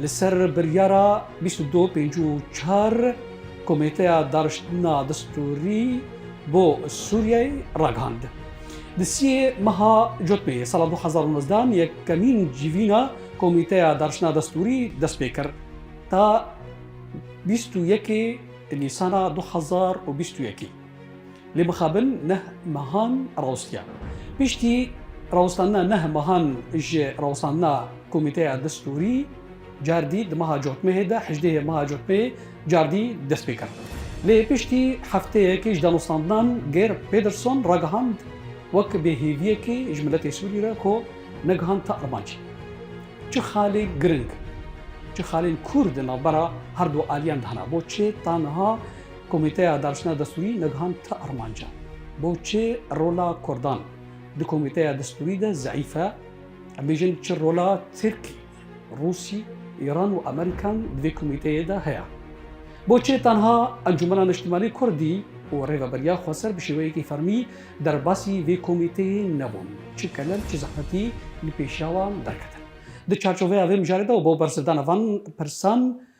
Li ser biryara bîst û du pêncî û çar Komîteya Dariştina Distûrî bo Sûriyeyê ragihand. Di siyê meha Cotmê yê sala du hezar û nozdeh an yekemîn civîna Komîteya Dariştina Destûrî dest pê kir ta bîst û yekê Nîsana du hezar û bîst û yekê. Lê bixabin neh mehan rawestiyan. Piştî rawestandina neh mehan ji rawestandina Komîteya Distûrî cardî di meha cotmehê de hejdêhê meha cotmehê cardî dest pê kir. Lê piştî hefteyekê ji danostandinan Geir Pederson ragihand wek bêhêviyekê ji miletê Sûrî re ku negihand ta armancê. Çi xalê giring, çi xalên kûr di navbera herdu aliyan de hene. Bo çê ta niha Komîteya Darsna Destûrî nigihand ti armanca, Boçi rola Kurdan di Komîteya Destûrî de zeîf e? Em bêjin çi rola Tirkî, Rûsî, Îran û Amerîkan di vê komîteyê de heye? Boçi tenha Encûmena Niştimanî Kurdî û Rêveberiya Xweser bi şêweyekî fermî derbasî vê komîteyê nebûn? Çi kelem, çi zehmetî li pêşiya wan derketin? Di çarçoveya vê mijarê de û bo bersivdana van pirsan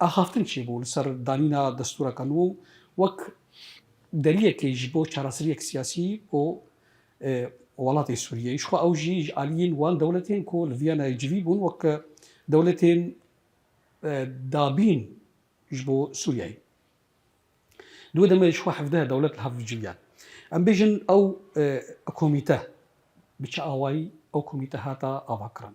Axaftin çi bû li ser danîna destûreka nû wek deriyekê ji bo çareseriyek siyasî bo welatê Sûriyeyê. Jixwe ew jî ji aliyên wan dewletên ku li Vîyanayê civî bûn wek dewletên dabîn ji bo Sûriyeyê. Di wê demê jixwe hevdeh dewlet li hev civiyan. Em bêjin ew komîte bi çi awayî ew komîte hata avakirin.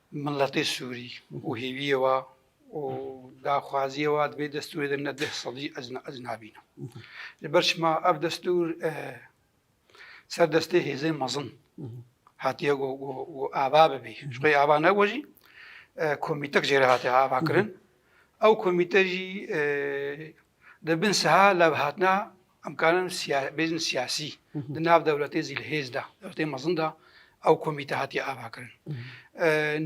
Miletê Sûrî û hêviyê wa û daxwaziyê wa divê destûrê de ne deh sal jî ez ez nabînim. Li ber çima ev destûr ser destê hêzên mezin hatiye got got ava bibî. Ji xwe ava nebû jî komîtek jê re hatiye avakirin. Ew komîte jî di bin siha levhatina Em karin bêjin siyasî di nav dewletê zîlhêz de, dewletê mezin de ew komîte hatiye avakirin.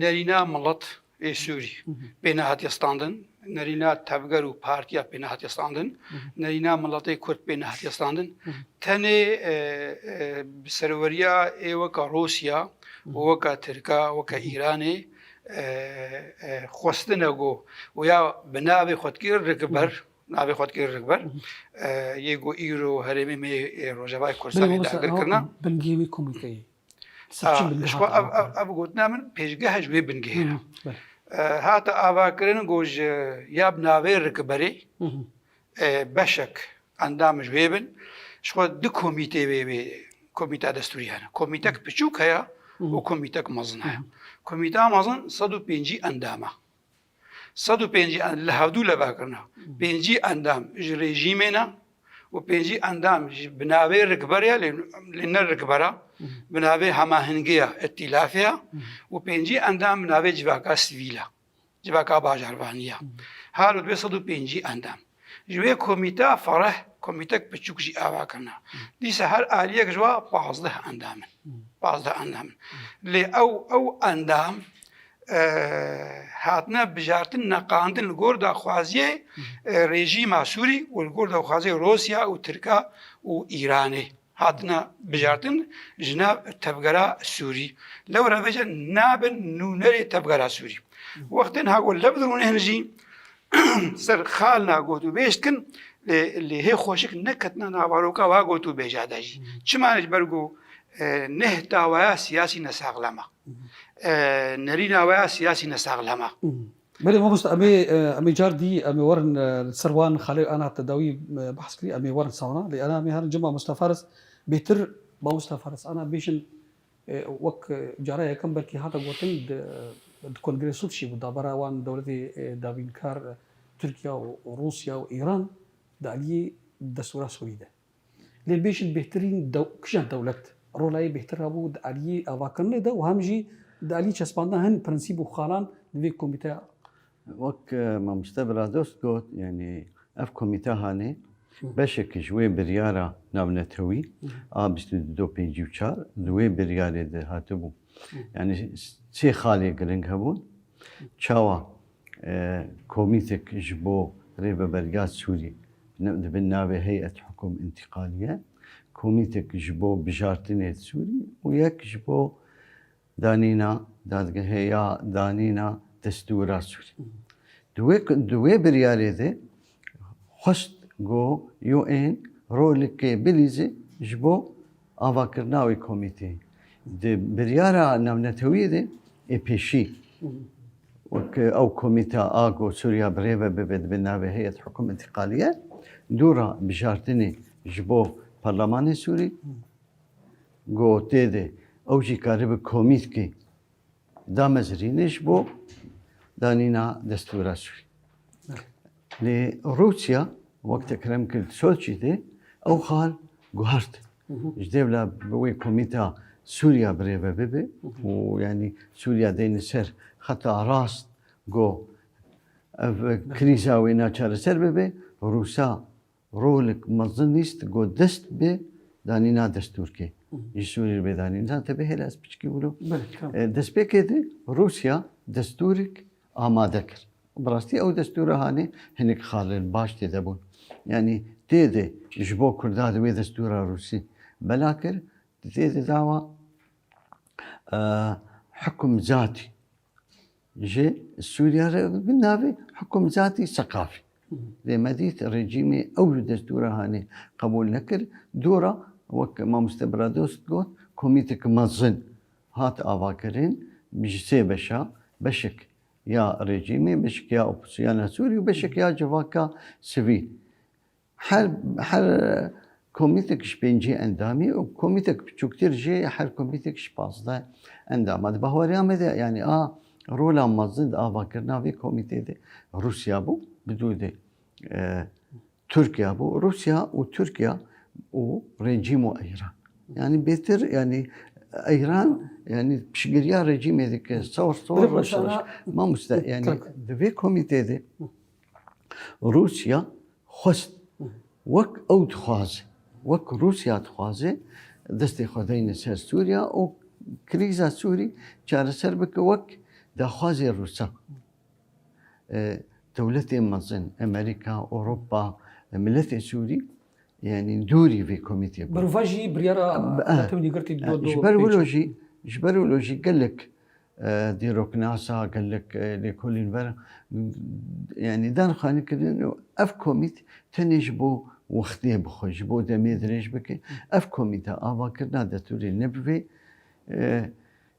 Nerîna milet ê Sûrî pê nehatiye standin, nerîna tevger û partiya pê nehatiye standin, nerîna miletê Kurd pê nehatiye standin. Tenê bi serweriya ê weka Rûsya û weka Tirka weka Îranê xwestine ku ya bi navê xwedkir rigiber Navê xwe dikir Rikber. Yê ku îro herêmê me yê Rojavayê Kurdistanê dagir kirine. Bingehê wê komîte ye. Ji bo ev gotina min pêşgeha ji wê bingehê re. Hate avakirin ku ji ya bi navê Rikberê beşek endam ji wê bin. Ji xwe du komîtê wê wê komîta destûrî hene. Komîtek piçûk heye û komîtek mezin heye. Komîta mezin sed û pêncî endam e. Sed û pêncî endam li hevdû leva kirina. Pêncî endam ji rejîmê ne û pêncî endam ji bi navê rikber ya lê ne rikbera bi navê hemahingiya îtîlafê ya û pêncî endam bi navê civaka sivîl e civaka bajarvanî ya. Her bi sed û pêncî endam. Ji wê komîteya fereh komîtek piçûk jî ava kirina. Dîsa her aliyek ji wa pazdeh endam in. Pazdeh endam in. Lê ew ew endam hatine bijartin neqandin li gor daxwaziyê rejîma Sûrî û li gor daxwaziyê Rûsya û Tirka û Îranê. hatine bijartin ji nav tevgera sûrî. Lewre ve jî nabin nûnerê tevgera sûrî. Wextên ha ku lev dirûnin jî ser xalina gotûbêj dikin lê lê hê xweşik neketina navaroka wa gotûbêja de jî. Çima ne ji ber ku neh dawaya siyasî nesaxlem e. Nerîna we ya siyasî nesaxlem e. Belê mamoste em ê em ê car dî em ê werin li ser wan xalê ana te dawî behs kirî em ê werin sawna lê ana em ê herin cem mamoste Faris bêtir mamoste Faris ana bêjin wek cara yekem belkî hate gotin di kongrê sûd şî bû dabera wan dewletê dabînkar Tirkiya û Rûsya û Îran di aliyê destûra Sûrî de. Lê bêjin bêhtirîn kija dewlet rola yê bêhtir rabû di aliyê avakirinê de û hem jî di aliyê çespandina hin prinsîp û xalan li vê komîteya Wek Mamoste Biradost got, yanî ev komîte hanê beşek ji wê biryara navnetewî a bîst û du pêncî û çar di wê biryarê de hatibû. Yanî sê xalê giring hebûn, çawa Komîtek ji bo Rêveberiya Sûriyê di bin navê Heyet Hukum Întîqaliye, Komîtek ji bo Bijartinê li Sûriyê û yek ji bo danîna dadgehê ya danîna destûra Sûriyê. Di wê biryarê de Xwest ku UN rolekê bilîze ji bo avakirina wê komîteyê. Di biryara navnetewiyê de ê pêşî wek ew komîte a ku Sûriya bi rê ve bibe dibe navê heyet hukûm întiqaliye dûra bijartinê ji bo Parlemanê Sûrî ku tê de ew jî karibe komîtkê Damezrînê ji bo danîna destûra Sûrî. Lê Rûsya wek te kirem kir di Soçî de ew xal guhart. Ji dêvla bi wê komîta Sûrya birêve bibe û yanî Sûrya deyne ser xeta rast go ev krîza wê naçareser bibe, Rûsa Rolek mezin nîst ku dest bi danîna destûrkê ji Sûriyê re bê danîn. Zan tevê hêla ez piçikî wilo. Destpêkê de Rûsya destûrek amade kir. Bi rastî ew destûra hanê hinek xalin baş tê de bûn. Yanî tê de ji bo Kurda di wê destûra Rûsî bela kir, tê de dawa hikum zatî Ji Sûriya re bi navê Hikumzatî Seqafî. Lê me dît rejîmê ew li destûra hanê qebûl nekir. Dora wek Mamoste Biradost got, komîteke mezin hat avakirin ji sê beşa, beşek ya rejîmê, beşek ya opozîsyona Sûrî û beşek ya civaka sivîl. Her her komîtek ji pêncî endamî û komîtek biçûktir jî her komîtek ji pazdeh endama. Di bahweriya me de yanî a rola mezin di avakirina vê komîtê de Rûsya bû, bi dû de Tirkiye bû. Rûsya û Tirkiye û rejîm û Eyran. Yanî bêtir yanî Eyran yanî piştgiriya rejîmê dike. Sewr sewr reş reş. Mamoste yanî di vê komîtê de Rûsya xwest wek ew dixwaze, wek Rûsya dixwaze destê xwe deyne ser Sûriya û krîza Sûrî çareser bike wek daxwazê Rûsan. Dewletên mezin, Amerîka, Ewropa, miletê Sûrî yanî dûrî vê komîtê bûn. Bi rûva jî biryara Netewînî girtî do do. Ji ber wilo jî, ji ber wilo jî gelek Dîroknasa gelek lêkolîn ver yanî dan xanî kirin û ev komît tenê ji bo wextê bixwe, ji bo demê dirêj bike. Ev komîte avakirina detûrê ne bi vê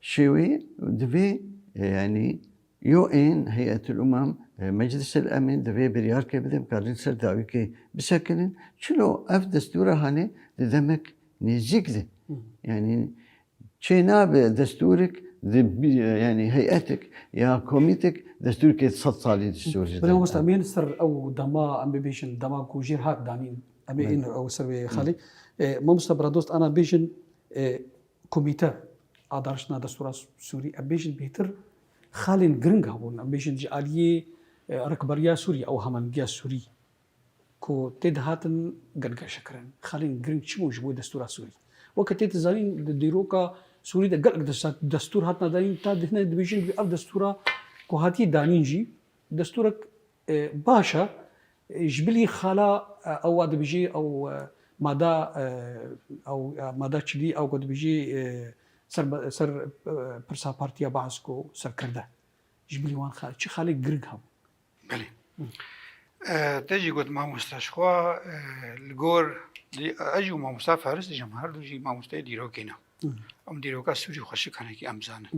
şêweyê divê yanî UN, Hey'etul Umam, Meclisel Emîn divê biryarke bide bikare li ser dawîkê bisekinin. Çilo ev destûra hane di demek nêzîk de yanî Çênabe destûrik di yanî heyetik ya komîtik destûrkê di sed salî di sor jî. Belê mamosta em ê li ser ew dema em bibêjin dema ku jêr hat danîn em ê êno ew ser wê xalî. Mamosta biradost ana bêjin komîte a darijtina destûra sûrî em bêjin bêtir xalên giring hebûn em bêjin ji aliyê rikberiya sûrî ew hemengiya sûrî ku tê dihatin gelgeşekirin, xalên giring çi bûn ji bo destûra Sûrî? Weke tê di zanîn di dîroka Sûrî de gelek destûr hatina danîn ta hinek dibêjin divê ev destûra ku hatiye danîn jî destûrek baş e ji bilî xala ew wa dibêjê ew mada ew mada çilî ew ku dibêjê ser pirsa partiya Baas ku serkirde ji bilî wan çi xalê giring hebûn. Belê. Te jî got mamosta ji xwe li gor ez jî mamosta feris dijim her du jî mamosteyê dîrokê ne. Em dîroka Sûrî xweşikanekî em zanin.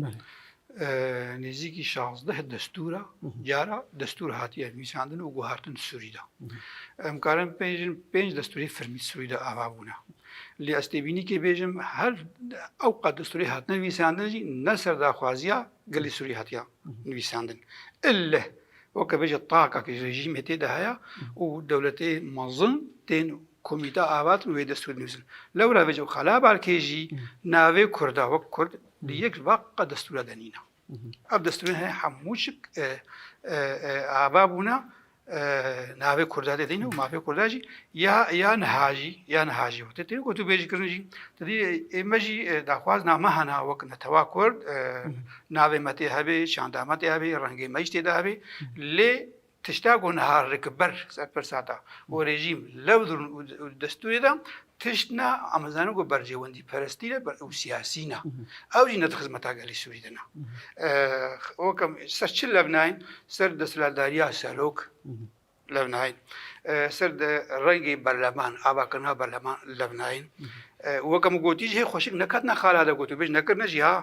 Nêzîkî şazdeh destûra cara destûr hatiye nivîsandin û guhartin Sûrî de. Em karin pêjin pênc destûrê firmî Sûrî de ava bûne. Lê ez têbînîkê bêjim her ew qad destûrê hatine nivîsandin jî ne ser daxwaziya gelê Sûrî hatiya. Nivîsandin. Ille weke bêje taka ki rejîmê tê de heye û dewletê mezin tên komîte avatin û wê destûr dinivîsin. Lewra vêje û Xala Balkê jî navê Kurda wek Kurd di yek vaqa destûra de nîne. Ev destûrên heye hemû çik ava bûne Navê Kurda tê tînin û mafê Kurda jî ya ya niha jî ya niha jî tê tînin gotûbêjkirin jî tu dî ê me jî daxwaz na me hena wek netewa Kurd navê me tê hebê şanda me tê hebê rengê me jî tê de hebê lê tişta ku niha rikber ser pirsa da û rejîm lewdir û destûrê de Tişt na em dizanin ku berjewendîperestî ne û siyasî ne. Ew jî ne di xizmeta gelê Sûrî de ne. Wek em ser çi levnayîn, ser desthilatdariya serok levnayîn, ser rengê berleman, avakirina berleman levnayîn. Wek em gotî jî hê xweşik neketine xala de ku tu bêj nekirine jî ha.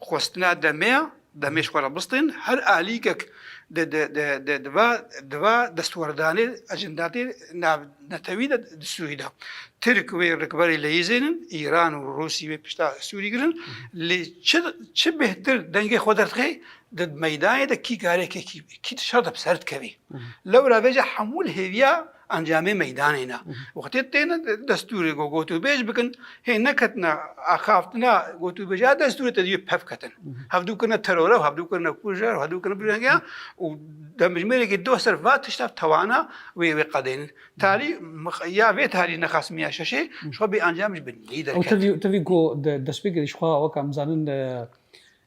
Xwestina demê ya, demê ji xwe re bistîn, her alîkek di di di di di va di va destwerdanê ecendatê navnetewî de di Sûrî de. Tirk wê rikberê leyîzênin, Îran û Rûsî wê pişta Sûrî girin. Lê çi çi bêhtir dengê xwe derxê di meydanê de kî kare kê kî kî di şer de bi ser dikevî. Lewra vê ca hemû li hêviya Encamê meydanê ne. Wextê têne destûrê ku gotûbêj bikin, hê neketine axaftina gotûbêj a destûrê te diyê pef ketin. Hevdû kirine teror ew, hevdû kirine kûjer, hevdû kirine birêngiyan û demjimêrekî doh ser va tişta tewana wê wê qedên. Tarî ya vê tarî nexasimiye ya şeşê ji xwe bêencam ji binî derket. Ew tivî ku destpêkê jixwe weke em zanin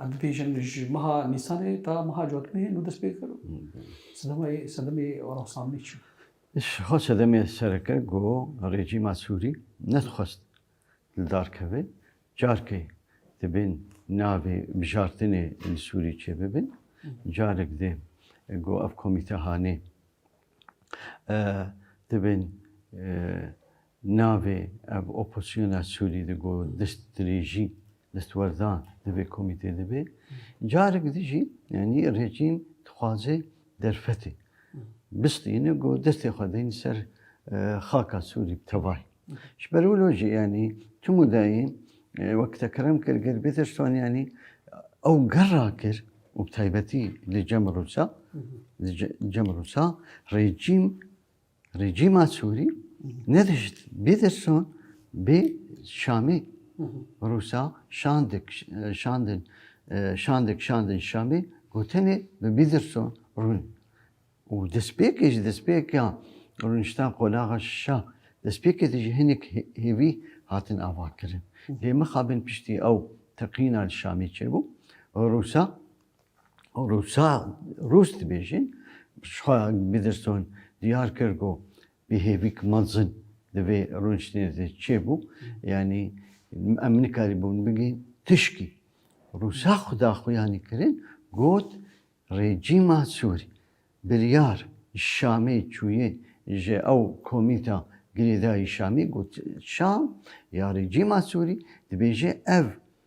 Em dibêjin ji meha Nîsanê ta meha Cotmehê nû dest pê kir û sedemê rewşanbî çû. Xwe sedemê sereke ku rejîma Sûrî nedixwest li dar keve careke dibên navê bijartinê li Sûrî çêbibin. Carek dê ku ev komîtehanê dibên Navê ev oposyona Sûrî de ku destdirêjî, destwerdan di vê komîtê de bê, carek din jî yanî rejîm dixwaze derfetê bistîne ku destê xwe dayîn ser xaka Sûrî bi tevahî. Ji ber wilo jî yanî tim û dayîn wek te kerem kir ger bê te ji wan yanî ew ger rakir û bi taybetî li cem Rûsa, li cem Rûsa rejîm, Rejîma Sûrî nedişt bê derson bê Şamê. Rûsa şandik şandin şandik şandin Şamê gotenê bi bî derson rûn. û destpêkê ji destpêka rûnişta qolaxa şa destpêkê de ji hinek hêvî hatin avakirin. Lê mixabin piştî ew teqîna li Şamê çêbû, Rûsa Rûsa Rûs dibêjin xwe Biderstone diyar kir ku bi hêvîk mezin di vê rûniştinê de çêbû yanî em nikarîbûn bigihîn tişkî Rûsa xwe daxuyanî kirin got rejîma Sûrî biryar Şamê çûyê ji ew komîta girêdayî Şamî got Şam ya rejîma Sûrî dibêje ev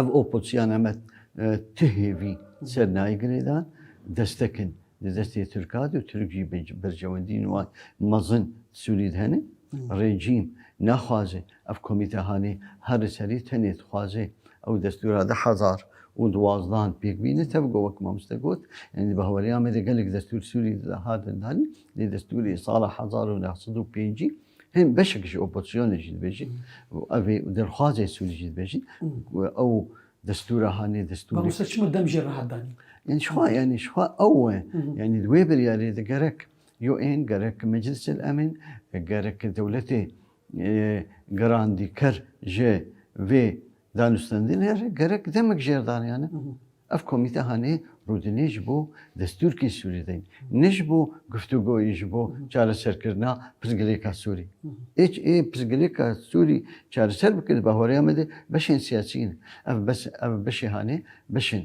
Ev opozîsyon em ti hêvî ser nayê girêdan, destek in di destê Tirka de û Tirk jî berjewendîyên wan mezin di Sûrî de hene. Rejîm naxwaze ev komîte hanê her li serî tenê dixwaze ew destûra du hezar û duwazdan pêk bîne. Tevgo wek mamoste got, yanî di bihaweriya me de gelek destûr Sûrî de hatin danîn. Lê destûrê sala hezar û neh sed û pêncî Hên beşek ji opozisyonê jî dibêjin û ev ê derxwazê Sûrî jî dibêjin ku ew destûra hanê destûrê. Mamosta çima dem jê rehat danî? Yani şixwa yani şixwa ew e. Yani di wê biryarê de gerek UN, gerek Meclisel Emîn, gerek dewletê gerandî ker ji vê Danûstandin herî gerek demek jêr daniyane. Ev komîte hanê rûdinê ji bo destûrkên Sûrî deyîn. Ne ji bo guftugoyî ji bo çareserkirina pirsgirêka Sûrî. Êç ê pirsgirêka Sûrî çareser bike di bahoreya me de beşên siyasî ne. Ev bes ev beşê hanê beşên.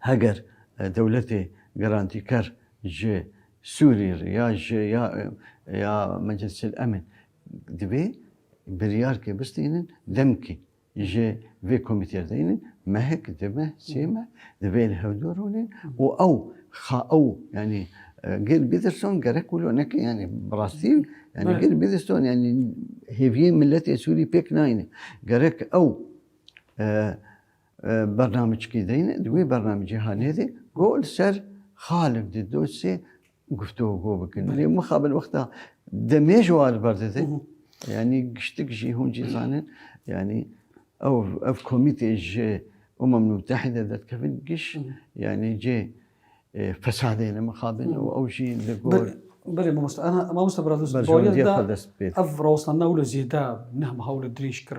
Heger dewletê gerantîker ji Sûrî re ya ji ya ya Meclisîl Emn divê biryar ke bistînin demkî ji vê komîtê re deynin mehik, di meh, sê meh divê li hevdû rûnin û ew xa ew yanî Gil Bîdrson gerek wilo neke yanî bi rastî yanî Gil Bîdrson yanî hêviyê miletê Sûrî pêk nayne. Gerek ew Bernamecikî deyne di wê bernamecîhanê de got li ser xalib di dosyê guftûgo bikin. Lê mixabin wexta demê ji wa li ber dide yanî giştik jî hûn jî zanin yanî ew ev komîtê ji Umam Mutehîde derdikevin giş yanî cê fesadê ne mixabin û ew jî li gor Belê mamosta mamosta Bradus ev rewşname wilo zêde neh hewl dirêj kir.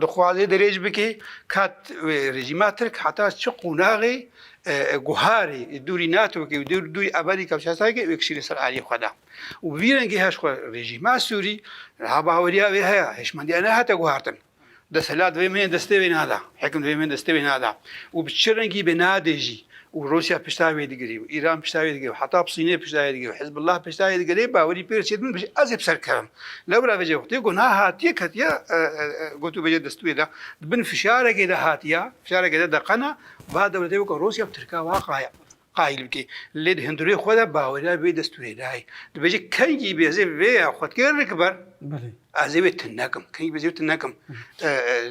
Dixwaze dirêj bike ka rejîma Tirk heta çi qonaxê guharê dûrî NATOkê û dûrî Amerîka û Çesayekê vekişîne ser aliyê xwe de. Û bi vî rengî her xwe rejîma Sûrî ha baweriya wê heye hişmendiya nehate guhartin. Desthilat divê min yên destê wê neda. Hikim divê min destê wê neda. Û bi çi rengî bê nade jî. û Rûsya pişta wê digirî û Îran pişta wê digirî û heta Sînê pişta wê digirî û Hizbullah pişta wê digirî bawerî pê diçê din bijî ez ê bi ser kevim. Lewra vê cevxtê ku niha hatiye ketiye gotûbêje destûyê de di bin fişarekê de hatiye fişarekê de de qena ba dewletê weke Rûsya bi Tirka wa qaya qayîl bikê. Lê di hindurê xwe de baweriya vê destûrê nayê. Dibêje kengî bê ez ê vê ya xwedkê rik ber ez ê wê tune kim. Kengî bê ez ê wê tune kim.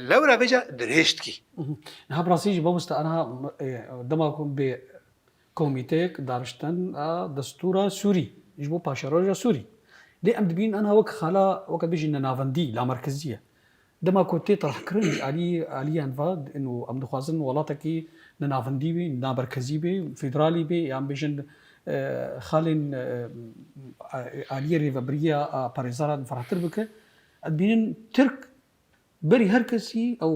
Lewra vê ca dirêj dikî. Niha bi rastî jî mamoste aniha dema ku bê komîteyek darijtin a destûra Sûrî ji bo paşeroja Sûrî. Lê em dibînin aniha wek xala weke bêjin ne navendî, lamerkezî ye. Dema ku tê tirhkirin ji alî aliyan ve û em dixwazin welatekî ne navendî bê, ne merkezî bê, federalî bê ya em bêjin xalên aliyê rêvebiriya parêzaran ferehtir bike. Em dibînin Tirk. Berî her kesî ew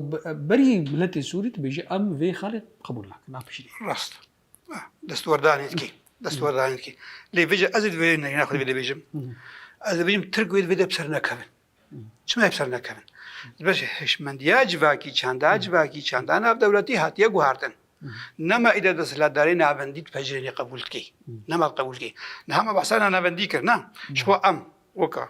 berî miletê Sûrî dibêje em vê xalê qebûl nakin a piştî. Rast. Destwerdanê dikê. Destwerdanê dikê. Lê vêje ez ê divê neyna xwe divê bêjim. Ez ê bêjim Tirk wê divê de bi ser nekevin. Çima bi ser nekevin? Dibeşe hişmendiya civakî, çanda civakî, çanda navdewletî hatiye guhardin. Nema îde desthilatdarê navendî di pejirênê qebûl dikê. Nema qebûl dikê. Niha me behsa navendî kir na. Ji bo em weka.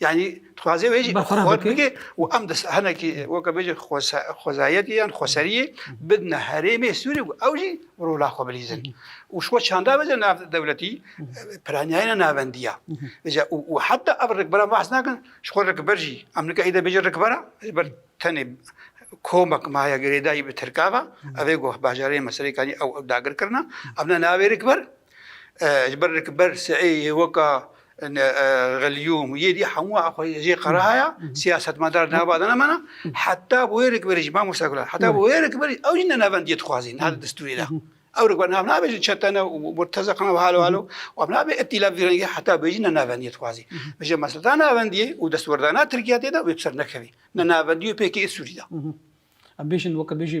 یعنی دixwazê wê jî Bertaraf xwe bike. bike û em di hinekî weke bêje xwese- xwezayetê yan xweseriyê bidine herêmê Sûrê ku ew jî rola xwe bilîzin. Û ji xwe çanda bêje nav dewletî piranîyayîna navendî ya. Bêje û û heta ev rikberan behs nakin ji xwe rikber jî em nika êdî bêje rikbera ji ber tenê komek maye girêdayî bi tirka ve. Ev ê goh bajarê me serê kanî ew dagir kirina. Em ne navê rikber Ji ber ku ber si'ê yê weka Gelyûm yê dî hemû xwe jê qera haya, siyasetmedar nava dana me na, heta bi wê rikberî jî mamoste Gulan heta bi wê rikberî ew jî ne navendiyê dixwazî niha di distûrê de. Ew rikber nav nabe ji çetene û murtezek nav halo halo û ev nabe îtîlaf vî rengî heta bi wê jî ne navendiyê dixwazî. Ji mesleta navendiyê û destwerdana Tirkiye tê de wê bi ser nekevî. Ne navendiyê û pkk ê Sûrî de. Em bêjin weke bêjî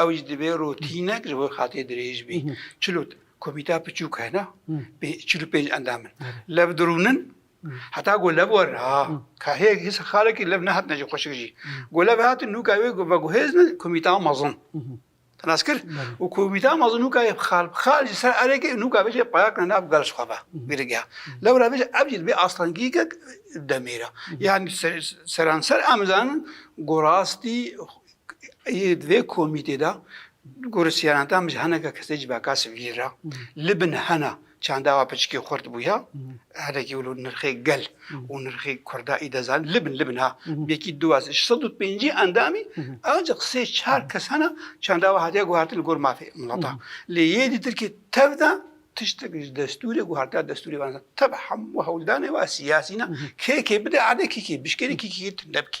Ew jî divê rotînek ji bo xatê dirêj bî. Çil û komîteya piçûk hene bê çil û pênc endam in. Lev dirûnin heta ku lev werin ha ka hê hêsa xalekî lev nehatine jî xweşik jî. Ku lev hatin nûka wê veguhêzin komîteya mezin. Te nas kir û komîteya mezin nûka yê xal bi xal ji ser erê kir nûka bêje payakine nav gel ji xwe ve girîgeha. Lew re bêje ev jî divê aslengîgek demêra. Yanî seranser em zanin ku rastî Di vê komîtê de gorî sîyaneta min ji hineke kesê ji bekes vîr re. Li bin hena çanda wa piçikî xurt bûye. Hinekî wilo nirxê gel û nirxê kurda î dezan. Li bin li bin ha yekî du ez ji sed û pêncî endamî ancak sê çar kes hena çanda wa hatiye guhartin li gor mafê mileta. Lê yê dîtir kê tev de tiştek ji destûrê guhartiya destûrê van. Tev hemû hewldanê wa sîyasî ne. Kê kê bide erde kê kê bişkêne kê kê tinde bike.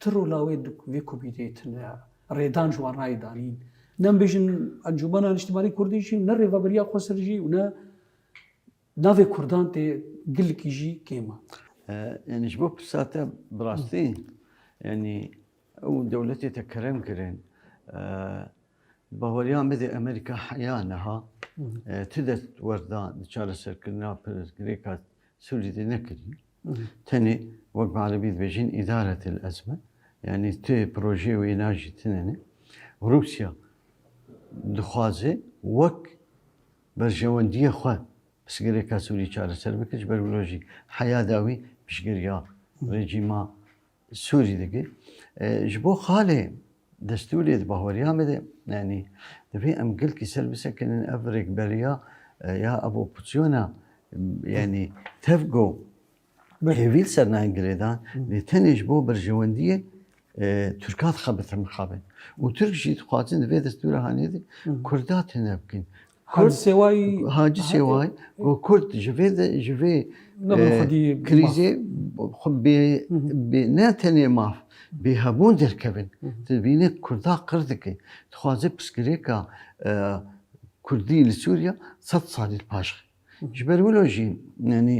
Ti rola wê di vê komîteyê tune ya? Rêdan ji wan rayê danîn. Ne em bêjin Encûmena Niştimanî Kurdî jî û ne rêveberiya Xweser jî û ne navê Kurdan tê gilikî jî kêm e. Yanî ji bo pirsa te bi rastî yanî ew dewletê te kerem kirin baweriya me dê Amerîka heya niha ti dest werda di çareserkirina pirsgirêka Sûrî de nekirî? Tenê wek bi erebî dibêjin îdaretel ezme yanî tu projeyê wê najî tune ne. Rûsya dixwaze wek berjewendiyê xwe pirsgirêka Sûrî çareser bike ji ber wilo jî heya dawî piştgiriya rejîma Sûrî dike. Ji bo xalê destûrê di bahweriya me de yanî divê em gilkî ser bisekinin ev rêkberiya ya ev opozîsyona yanî tevgo bi hêvîl ser nayên girêdan lê tenê ji bo berjewendiyê Tirkan dixebitin mixabin û Tirk jî dixwazin di vê destûra hanê de Kurda tune bikin. Kurd Hacî Sêwayî got Kurd ji vê ji vê krîzê xwe bê ne tenê maf bê hebûn derkevin. Tu dibînî Kurda qir dike. Dixwaze pirsgirêka Kurdî li Sûriya sed salî li paş xe. Ji ber wilo jî yanî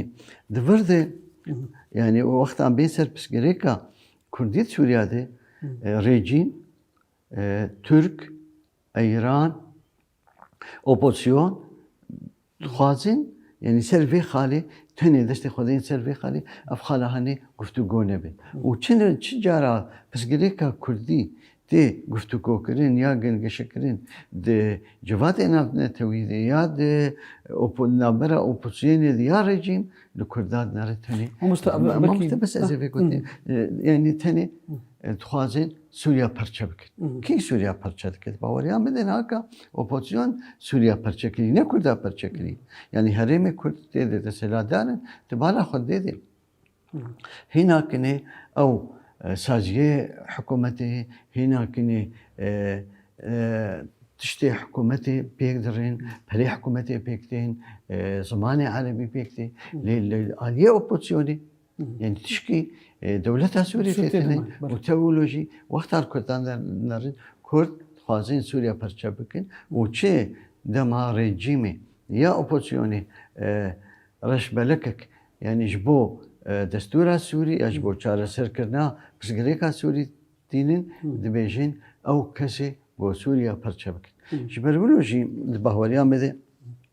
di vir de yanî wextan bên ser pirsgirêka Kurdî li Sûriya de rêcîn Tirk, Îran, Opozîsyon dixwazin yanî ser vê xalê tenê destê xwe dayên ser vê xalê ev xala hanê guftûgo nebe. Û çi çi cara pirsgirêka kurdî tê guftûgokirin ya gengeşekirin di civatê navnetewî de ya di navbera opozîsyonê de ya rejîm li kurdan nare tenê. Mamoste bes ez ê vê gotinê yanî tenê dixwazin Sûriya perçe bikin. Kî Sûriya perçe dikir? Baweriyan bidin haka opozisyon Sûriya perçe kirî, ne Kurda perçe kirî. Yanî herêmê Kurd tê de deselatdar in, di bala xwe dê dê. Hîna kinê ew e, saziyê hikûmetê, hîna kinê e, e, tiştê hikûmetê pêk dirên, perê hikûmetê pêk tên, e, zimanê erebî pêk tê. Lê li aliyê opozisyonê Yani tişkî e, dewleta Sûriyê Sûriyê têtene têtene, û belê. teolojî wexta li Kurdan de nerin Kurd dixwazin Sûriya perçe bikin û çi dema rejîmê ya opozisyonê e, reşbelekek yani ji bo e, destûra Sûrî ya ji bo çareserkirina pirsgirêka Sûrî tînin dibêjin ew kesê bo Sûriya perçe bikin. Ji ber wilo jî di baweriya me de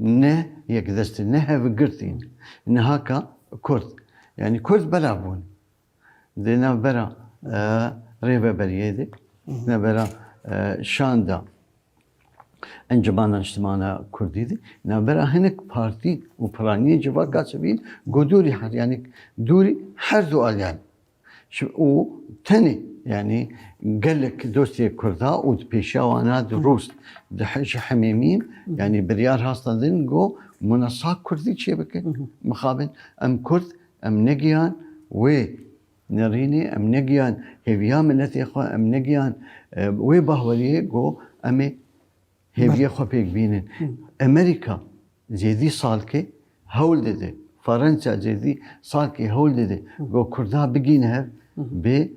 Ne yekdestîn, ne hevgirtîn. Niha ka Kurd, yanî Kurd belav bûn. Di navbera rêveberiyê de, di navbera şanda Encumana Niştimana Kurdî de, di navbera hinek partî û piraniyên civak a sivîl, ku dûrî her yanî dûrî her du aliyan Û tenê yanî gelek dostê Kurda û di pêşiya wana di Rûs di ji hemêmîn yanî biryar hasta din go muna sa Kurdî çê bikin. Mixabin em Kurd em negiyan wê nirînê em negiyan hêviya miletê xwe em negiyan wê bahweriyê go em ê Hêviyê xwe pêk bînin. Emerîka zêdî salkê hewl dide. Farensa zêdî salkê hewl dide. Go kurda bigîn hev bê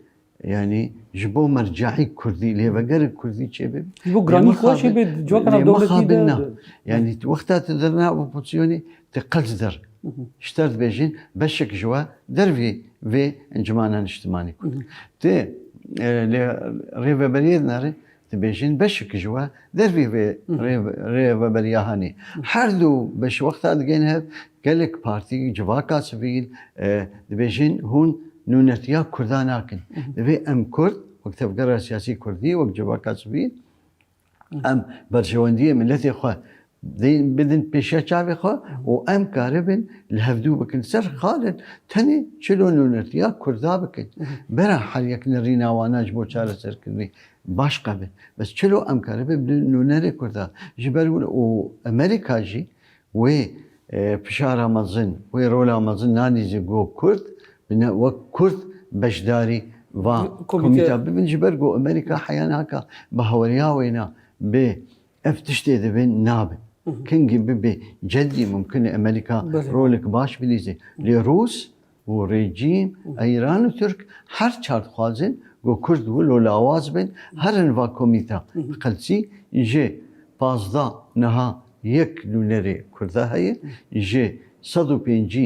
yani ji bo merceî kurdî lêvegerê kurdî çêbê. Ji bo giranî xwe çêbê civakana dewletî de. Yani wexta tu dir nav opozisyonê tu qels dir. Ji te dibêjin beşek ji we dervê vê encimana niştimanî kurd. Tu lê rêveberiyê dinare Dibêjin beşik ji we dervî vê rêveberiya hanê. Her du beş wexta digên hev gelek partî civaka sivîl dibêjin hûn nûnetiya kurda nakin. Divê em kurd wek tevgera siyasî kurdî wek civaka sivîl em berjewendiyê miletê xwe Dê bidin pêşiya çavê xwe û em karibin li hevdû bikin ser xalên tenê çil û nûnertî ya Kurda bikin. Bera her yek nirîna wana ji bo çareserkirinê baş qebin. Bes çilo em karibin bi nûnerê Kurda ji ber wan û Amerîka jî wê fişara mezin, wê rola mezin nanî ji bo Kurd bine wek Kurd beşdarî va komîteya bibin ji ber ku Amerîka heya naka bi haweriya wêna bi Ev tiştê divê nabe. Kingî bibê cedî mumkin e Amerîka rolek baş bilîzê. Lê Rûs û rejîm a Îran û Tirk her çar dixwazin ku Kurd wilo lawaz bin herin va komîta. Bi qelsî ji pazdeh niha yek nûnerê Kurda heye, ji sed û pêncî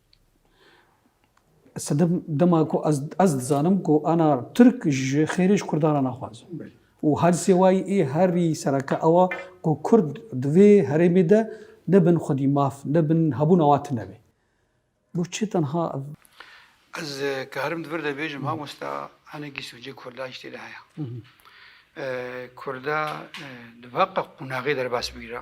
Sedim dema ku ez ez dizanim ku ana Türk ji xêrê ji Kurdan re naxwazin. Û her sêwayî ê herî sereke ewa ku Kurd di vê herêmê de nebin xwedî maf, nebin hebûna wan tune be. Bo çi tenha ev? Ez ke herim di vir de bêjim mamosta hinekî sûcê Kurda jî tê de heye. Kurda di veqa qûnaxê derbas bigire.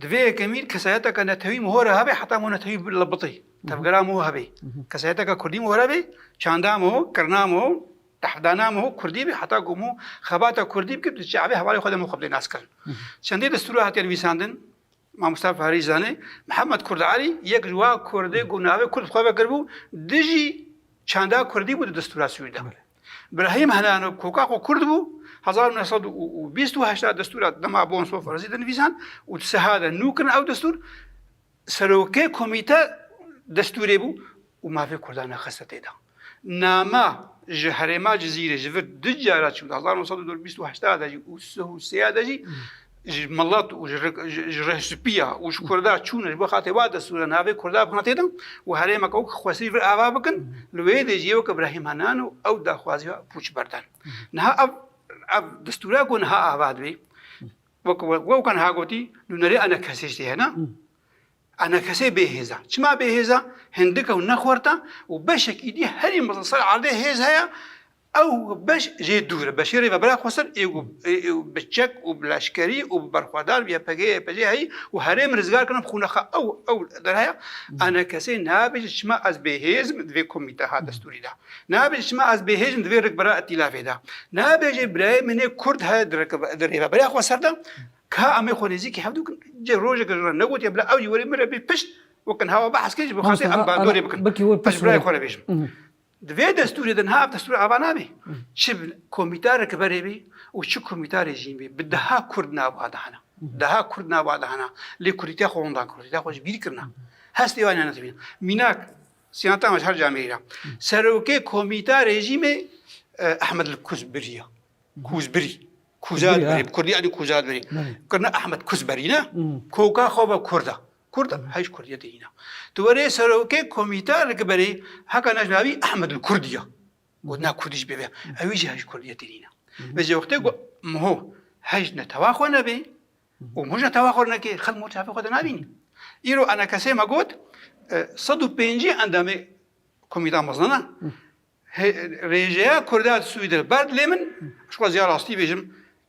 Di vê yekemîn kesayeteke netewî mihore hebê heta mo netewî bitî. Tevgera mo hebê. Kesayeteke kurdî mihore bê, çanda mo, kirina mo, dehdana mo kurdî bê heta ku mo xebata kurdî bikir di çavê hevalê xwe de mo xwe bi nas kirin. Çendî destûra hatiye nivîsandin, mamosta Fahirî jî zanê, Mihemed Kurd Alî yek ji wa kurdê ku navê kurd bi xwe vekiribû, dijî çanda kurdî bû di destûra Swîd de. Brahim Helano koka xwe kurd bû hezar û neh sed û bîst û heşt a destûra dema bon sof rezî de nivîsan û di siha de nû kirin ew destûr serokê komîte destûrê bû û mafê kurdan nexiste tê de. Nama ji herêma Cizîrê ji vir du cara çû di hezar û neh sed û bîst û heşt de jî û sih û sê de jî ji milet û ji rehspiya û ji Kurda çûn ji bo xatê wa destûra navê Kurda bi hatê din û herêmeke wek xwesî vir ava bikin li wê dê jî weke Brahîm Henan û ew daxwazî xwe pûç berdan. Niha ev ev destûra ku niha ava dibî wek wewka niha gotî nûnerê enekesê jî hene. Enekesê bêhêza. Çima bêhêza? Hindike û nexwerta û beşekî dî herî mezin ser erdê hêz heye Ew beş jê dûr e. Beşê Rêvebera Xweser ê ku bi çek û bi leşkerî û bi berxwedar YPG'ê YPJ'ê heyî û herêm rizgar kirin xûnexa ew ew der heye. Ana kesê nabêje çima ez bêhêz im di vê komîteha destûrî de. Nabêje çima ez bêhêz im di vê rikbera îtîlafê de. Nabêje birayê min ê kurd heye di di Rêveberiya Xweser de ka em ê xwe nêzîkî hev dikin. Cih rojeke ji wan negotiye bila ew jî were min re bê pişt wek in hewa behs kir ji bo xelkê em bandorê bikin. Ez ji birayê xwe re bêjim. Di vê destûrê de niha ev destûr ava nabe. Çi komîta rekiberê bê û çi komîta rejîm bê bi deha kurd nava dihena. Deha kurd nava dihena lê kurdîtiya xwe hûn dan kurdîtiya xwe ji bîr kirina. Hestê wan hene dimîne. Mînak siyanta me ji her cihê me îra. Serokê komîta rejîmê Ehmed li Kuz biriya. Kuz birî. Kuzat birî. Bi kurdî yanî kuzat birî. Kirina Ehmed Kuz berî ne. Koka xwe ve kurd e. Kurd a hêj kurdiyetê hîna. Di werê serokê komîteya rikberî heka ne ji navî Ehmedul Kurd ya. Gotina Kurdî ji bêve ewî jî hêj kurdiyetê hîna. Vê jê wextê ku mho hêj netewa xwe nebê û mho ji netewa xwe neke xelk mho çavê xwe de nabîne. Îro ene kesê me got sed û pêncî endamê komîteya mezin a rêjeya Kurda di Swîd re ber dilê min. Ji xwe ziya rastî bêjim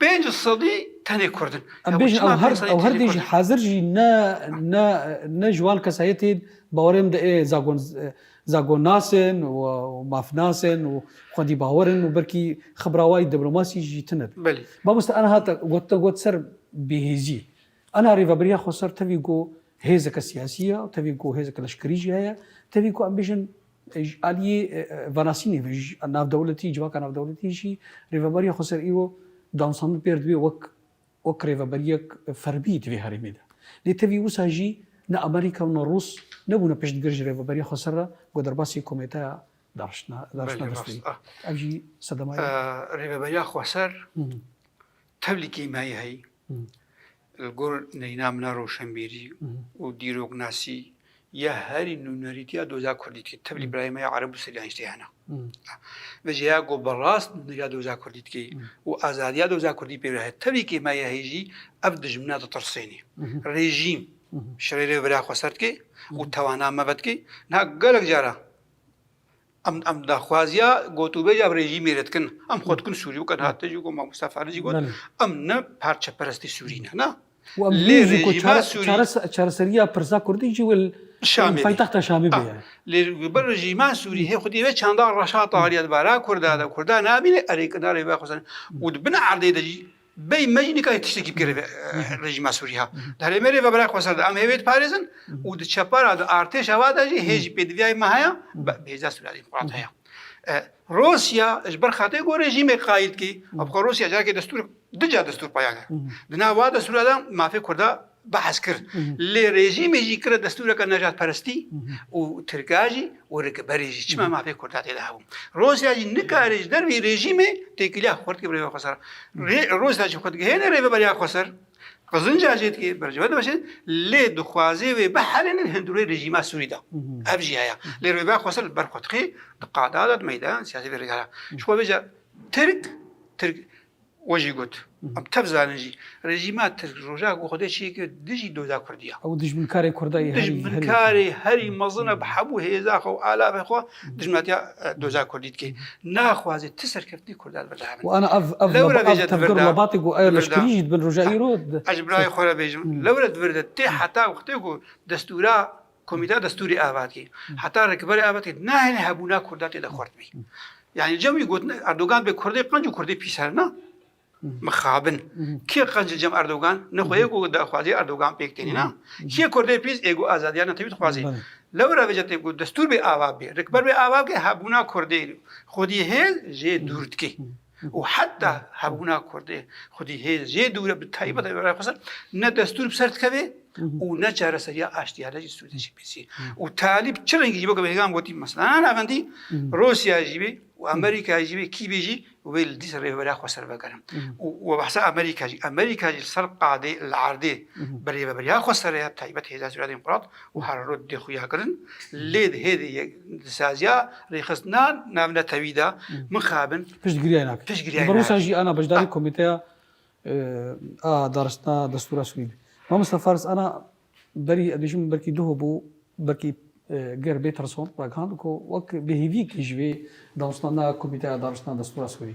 Pênc sedî tenê kurd in. Em bêjin ew her ew her dê jî hezir jî ne ne ne ji wan kesayetên bawerê min de ê zagon zagonnas in û mafnas in û xwedîbawer in û belkî xibrawayî diplomasî jî tune be. Belê. Mamoste aniha te got te got ser bêhêziyê. Ana rêveberiya Xweser tevî ku hêzeke siyasî ye, tevî ku hêzeke leşkerî jî heye, tevî ku em bêjin ji aliyê venasînê ve ji navdewletî, civaka navdewletî jî rêveberiya Xweser îro dawnsandin pêr dibe wek wek rêveberiyek ferbî di vê herêmê de. Lê tevî wisa jî ne Amerîka û ne Rûs nebûne piştgir ji rêveberiya Xweser re ku derbasî komêteya dariştina dariştina destpêyî. Ev jî sedema ye. Rêveberiya Xweser tevlî kêmiyayî heye. Li gor neyna min a roşenbîrî û dîroknasî ya herî nûnerîtî ya doza kurdî dike. Tevlî birayê me ya ereb û siryanî tê hene. Ve jê ya ku bi rast nûneriya doza kurdî dike û azadiya doza kurdî pê re heye. Tevlî kê me ya hê jî ev dijmina ditirsênê. Rejîm şirêrê vira xwe ser dike û tewana me vedike. Niha gelek cara Em em daxwaziya gotûbêja bi rejîmê re dikin. Em xwe dikin Sûrî weke hate jî got Mamosta Fadil jî got em ne parçeperestê Sûrî ne na. Lê rejîma Sûrî çareseriya pirsa Kurdî jî wil Şamê paytexta Şamê bê. Lê bi rejîma Sûrî hê xwedî vê çanda reşa tariya di bara Kurda de Kurda nabîne erê kinarê vexwazin û di bin erdê de jî Bey me jî nikare tiştekî bigire vê rejîma Sûrî ya. Di herêmê rê ve bira xwe ser de em hêvê diparêzin û di çepa ra di artêşa va de jî hê jî pêdiviyayê me heye bêhêza Sûrî ya jî qûrat heye. Rûsya ji ber xatirê ku rejîmê qayîl dikî, xwe Rûsya carekê destûr di ca destûr paya kir. Di nav va destûra de mafê kurda behs kir. Lê rejîmê jî kire destûreke nejatperestî û tirka jî û rikberî jî çima mafê kurda tê de hebû. Rûsya jî nikare ji dervî rejîmê têkiliya xurt ke bi rêva xwe ser. Rûsya jî xwe digihêne rêveberiya xwe ser, qizinca jê dike, berciveh dimeşe lê dixwaze wê biherînin hundirûyê rejîma Sûrî de. Ev jî heye. Lê rêveya xwe ser li ber xwe dixê, di qada de, di meydan siyasî de rêdihere. Ji xwe vê ca Tirk, Tirk We jî got, em tev zanin jî rejîma tirk roja ku Xwedê çê kir dijî doda Kurdî ya. Ew dijminkarê Kurda ye. Dijminkarê herî mezin e bi hemû hêza xwe û alafê xwe dijminatiya doza Kurdî dike. Naxwaze ti serkeftinê Kurda li vir de hebe. Ana ev ev lewre vêje di vir de. Lebatê ku ew leşkerî jî dibin roja îro. Ez ji birayê xwe re bêjim. Lewre di vir de tê heta wextê ku destûra Komîteya Destûrê a vat kî heta rêkberê a vat kî nahêle hebûna Kurda tê de xurt bî. Yanî cem wî gotin Erdogan bê Kurdê qenc û Kurdê pîs her na mixabin. Kê qenc li cem Erdogan ne xwe yek û daxwazî Erdogan pêk tênî na. Kê Kurdê pîs ê ku azadiya netewî dixwazî. Lewra vê cetê ku destûr bê ava bê, rêkber bê ava bikê hebûna Kurdê xwedî hêl jê dûr dikê. û heta hebûna Kurdê xwedî hêz jê dûr e bi taybet ev raya xweser ne destûr bi ser dikeve û ne çareseriya aştiya ne jî sûdê jî pêsî û talîb çi rengî jî bo ke bêhêgan gotî mesela navendî Rûsya jî bê û Amerîka jî bê kî bê jî wê li dîsa rêveberiya xweser vegerin û we behsa Amerîka jî Amerîka jî li ser qadê li erdê bi rêveberiya xweser e taybet hêza sûdê qûrat û her rût dê xuya kirin lê di hêdî yek di saziya rêxistina navnetewî de mixabin piştgiriyayê nakin. Piştgiriyayê nakin. Bi Rûsya jî ana beşdarî komîteya a daristina destûra Sûrî bî. Mamosta Faris ana berî ez bêjim belkî duh bû belkî ger bê Trison ragihand ku wek bêhêviyekî ji vê dawsnana komîteya daristina destûra Sûrî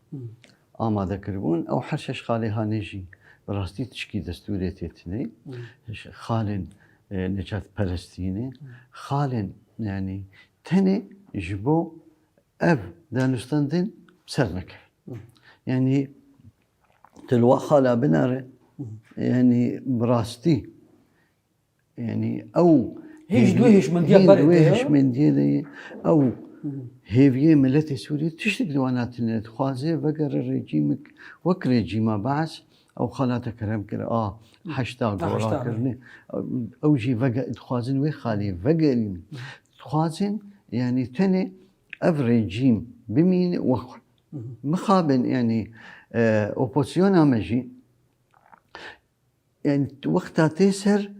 amade kiribûn ew her şeş xalê hanê jî bi rastî tişkî destûrê tê tînê xalên necatperestî ne xalên yanî tenê ji bo ev danûstandin ser neke yanî tu li we xala binare yanî bi rastî Yanî ew Hêj duh hêşmendiya berê de ye. Hêşmendiye de ye. Ew hêviyê miletê Sûriyê tiştek di wan hatine dixwaze vegere rejîmek wek rejîma Baas ew xalata kerem kir a heşta gora kirine. Ew jî dixwazin wê xaliyê vegerîn. Dixwazin yanî tenê ev rejîm bimîne wek xwe. Mixabin yanî opozisyona me jî Yan wexta tê ser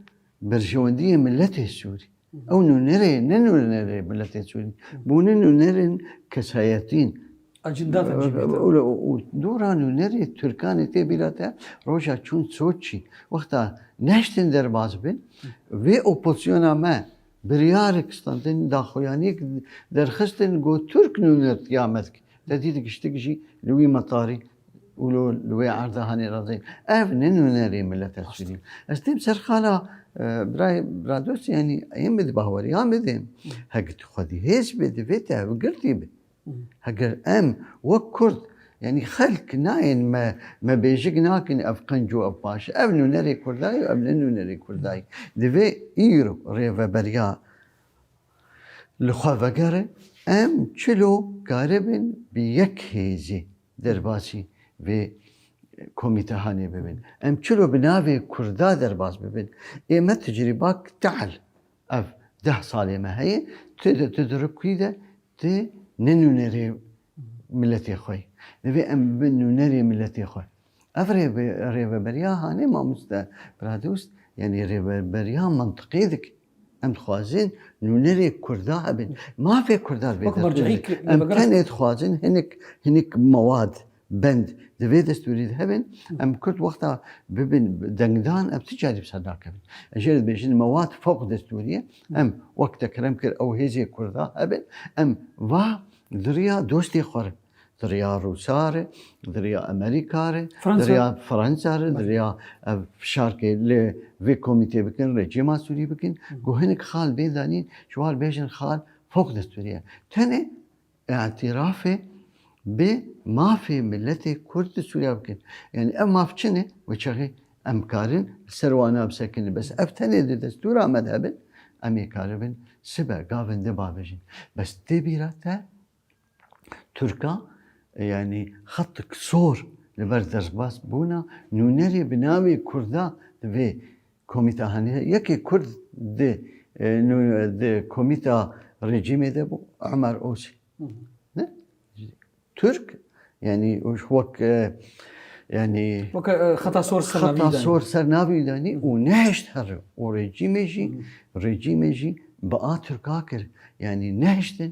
berjewendiyê miletê Sûrî. Ew nûnerê ne nûnerê miletê Sûrî. Bo ne nûnerên kesayetîn. Acinda te jî bîte. Û dora nûnerê Tirkanê tê bîra te roja çûn Soçî. Wexta nehiştin derbas bin, vê oposyona me biryarek standin, daxuyaniyek derxistin got Tirk nûner tiya mezg. Te dît giştik jî li wî metarî û lo li wê erda hanê razeyî. Ev ne nûnerê mileta Sûrî. Ez têm ser xala birayê Bradosî yanî yên bi di baweriyan bidê. Hegi tu xwedî hêz bê divê te ev girtî bi. Heger em wek Kurd yanî xelk nayên me me bêjik nakin ev qenc û ev paş e. Ev nûnerê Kurdayî û ev ne nûnerê Kurdayî. Divê îro rêveberiya Li xwe vegere em çilo karibin bi yek hêzê derbasî vê komîtehanê bibin. Em çilo bi navê Kurda derbas bibin. Ê me tecrîbak tehl ev deh salê me heye tu de tu dirikî de tu ne nûnerê miletê xwe yî. Divê em bibin nûnerê miletê xwe. Ev rêveberiya hanê mamoste Pradûst yanî rêveberiya mintiqê dike. Em dixwazin nûnerê kurda hebin. Mafê kurda divê destûrê. Em tenê dixwazin hinek hinek mewad, bend di vê destûrê de hebin. Em kurd wexta bibin dengdan em ti carî bi ser nakevin. Ez jê re dibêjin mewad fewq destûrî ye. Em wek te kirem kir ew hêzê kurda hebin. Em va di riya dostê xwe re Diriya Rûsa re, diriya Amerîka re, diriya Fransa re, diriya ev fişarkê lê vê komîtê bikin, rejîma Sûrî bikin, ku hinek xal bê danîn, ji war bêjin xal fok di Sûriye. Tenê îtîrafê bi mafê miletê Kurd di Sûriye bikin. Yani ev maf çi ne? Wê çaxê em karin li ser wan bisekin. Bes ev tenê di destûra me de bin, em ê karibin sibe gavin di babêjin. Bes tê bîra te Tirka yanî xetik sor li ber derbas bûna nûnerê bi navê Kurda di vê komîta hene. Yekê Kurd di di komîta rejîmê de bû Omer Osî. Ne? Tirk yanî wek yanî xeta sor ser xeta sor ser navî danî û nehişt her û rejîmê jî rejîmê jî bi a Tirka kir. Yanî nehiştin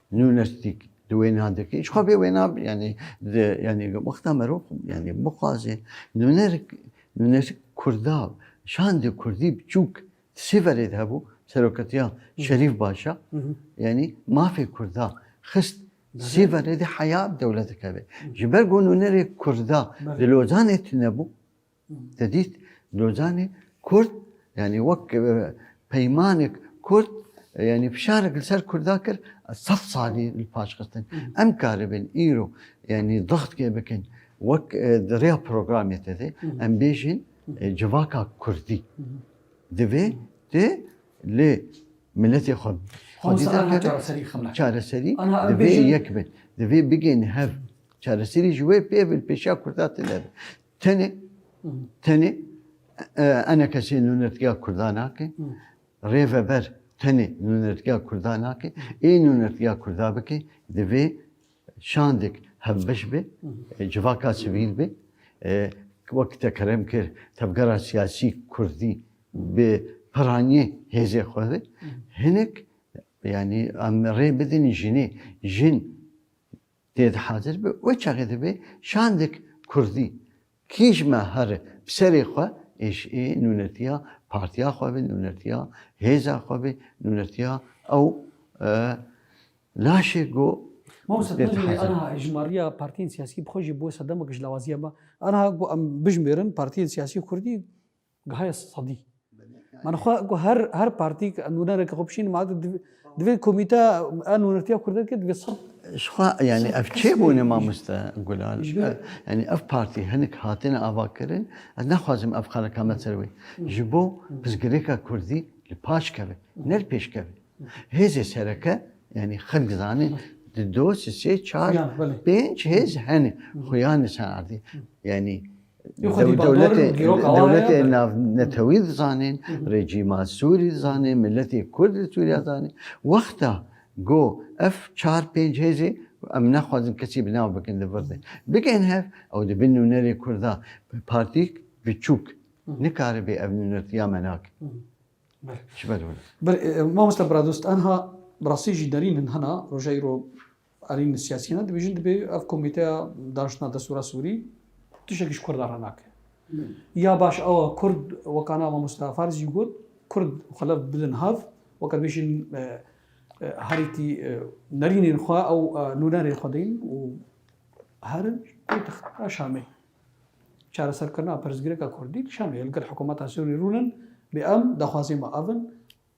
Nunes dîk di wêna dikê ji xwe bê wêna bi yanî di yanî wexta me rûx yanî bixwazê nuner nunes kurda şandê kurdî biçûk di sê verê de hebû seroketiya şerîf başa yanî mafê kurda xist di sê verê de heya dewlet dikeve ji ber ku nunerê kurda di lozanê tune bû Te dît Lozanê Kurd yanî wek peymanek Kurd yanî fişarek li ser Kurda kir sed salî li paş xistin. Em karibin îro yanî dixtkê bikin wek di rêya programê te de em bêjin civaka Kurdî. Divê tu li milletê xwe çareserî divê yek bin. Divê bigên hev çareserî ji wê pê bin pêşiya Kurda tune bin. Tenê tenê ene kesê nûnertgeha Kurda nake, rêveber tenê nûnertgeha Kurda nake, ê nûnertgeha Kurda bike divê şandek hevbeş be, civaka sivîl be, wek te kerem kir tevgera siyasî Kurdî bi piranîyê hêzê xwe ve hinek yanî em rê bidin jinê jin Tê de hazir be we çaxê de bê şandek kurdî kîj me here bi serê xwe êş ê nûnertiya partiya xwe be nûnertiya hêza xwe be nûnertiya ew laşê go Mamose tu jî aniha ji mariya partiyên siyasî bi xwe jî bi wisa demek ji lawaziya me aniha go em bijimêrin partiyên siyasî kurdî Gaye Sadî Min xwe ku her her partî nûnereke xwe bişîn ma divê komîte a nûnertiya kurdekê divê sed Şixwa yani ev çê bûne mamoste Gulal. Yani ev partî hinek hatine avakirin ez naxwazim ev qerekame ser wê. Ji bo pirsgirêka kurdî li paş keve ne li pêş keve. Hêzê sereke yani xelk zanê di do si sê çar pênc hêz hene xuyanê ser erdê. Yani Dewletê navnetewî dizanîn, rejîma Sûrî dizanîn, miletê Kurd li Sûriya dizanîn. Wexta ku ev çar pênc hêzê ku em nexwazin kesî bi nav bikin li vir de bigên hev ew di bin nûnerê Kurd de partîyek biçûk nikaribe ev nûnertiya menak ji ber wina. Mamoste Biradost, enha bi rastî jî derîn in hena roja îro? Arîn siyasîyanan dibêjin dibê ev komîteya daniştina destûra Sûrî tiştekî ji Kurda re nake. Ya baş ew e Kurd weka na mamosta Fariz jî got Kurd û xelef bidin hev weke dibêjin herîtî nerînên xwe ew nûnerên xwe deyin û herin pêtixta Şamê. Çareserkirina pirsgirêka Kurdî li Şamê li gel hikûmeta Sûrî rûnin bê em daxwazên me ev in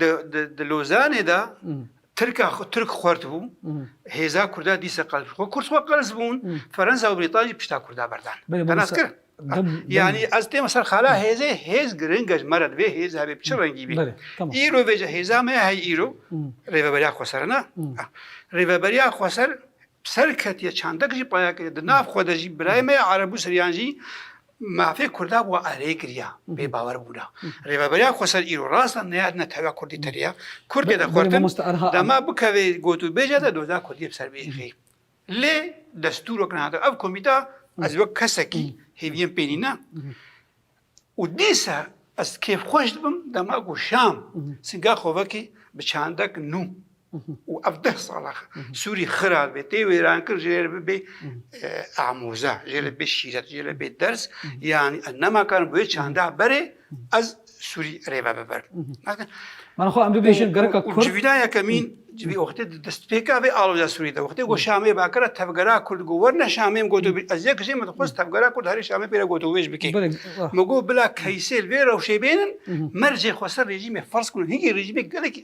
Di di Lozanê de Tirka Tirk xwert bû, hêza Kurda dîsa qels bû. Kurd xwe qels bûn, Fransa û Brîtanya jî pişta Kurda berdan. Tenas kir. Yani ez têma ser xala hêzê, hêz giring e ji me re divê hêz hebê bi çi rengî bî. Îro vê hêza me hey îro Rêveberiya Xweser e ne? Rêveberiya Xweser serketiye çandek jî paya kiriye. Di nav xwe de jî birayê me ya Ereb û Siryan jî Mafê Kurda wa erê kiriya, bê bawer bûna. Rêveberiya Xweser îro rast e neyar ne tevya Kurdî tiriya. Kurd tê de xwertin, dema bikeve got û bêje de doza Kurdî bi ser biêxî. Lê destûr wek nehat. Ev komîta ez wek kesekî hêviyên pê nîne û dîsa ez kêfxweş dibim dema ku şam singa xwe vekî bi çandek nû. û ev deh sal e Sûrî xirab bê, tê wêrankirin jê re bibê amoze, jê re bibê şîret, jê re bibê ders yanî ez nemakarin bi wê çanda berê ez Sûrî rêve bibirim. Mana xwe em bibêjin gereka Kurd. Civîna yekemîn civî wextê di destpêka vê aloja Sûrî de wextê got Şamê Bakir e tevgera Kurd got werne Şamê goto ez yek jê min dixwest tevgera Kurd herî Şamê pê re goto wêj bike. Min got bila keysê li vê rewşê bênin mercê xweser rejîmê ferz kirin hingî rejîmê gelekî